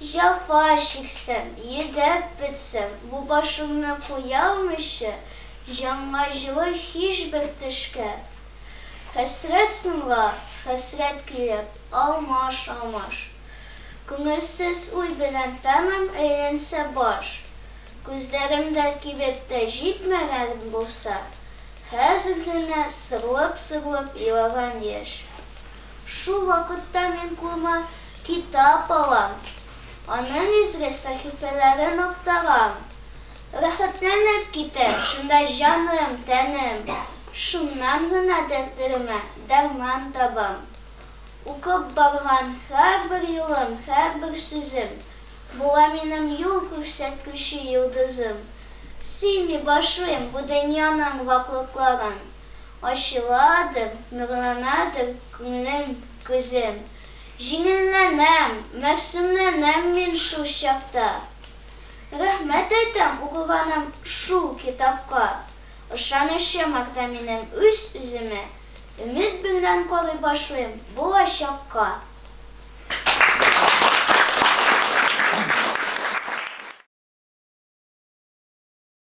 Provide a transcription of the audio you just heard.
Җәфа чиксәм, йөдәп бетсәм, Бу башымны куя алмыйча, Җанга җылы һичбер төшкә. Хәсрәт сынга хәсрәт килеп, Алмаш, алмаш. Күңелсез уй белән тәмам Әйләнсә баш. Күзләремдә кибеп тә җитмәгән Булса, хәзер генә сырлап-сырлап Елаган яшь. Шул вакытта мин кулыма китап алам, аның изге сәхифәләрен актарам. Рәхәтләнеп китәм, шунда җаным, тәнем, шуннан гына дәртләремә дәрман табам. Укып барган һәрбер юлым, һәрбер сүзем була минем юл күрсәткече йолдызым. Сыймый башлыйм бу дөньяның ваклыкларын. Ачыладыр, нурланадыр күңлем, күзем. Җиңелләнәм, мәгъсумланам мин шул чакта. Рәхмәт әйтәм укыганым шул китапка. Ышанычым арта минем үз-үземә. Өмет белән карый башлыйм булачакка.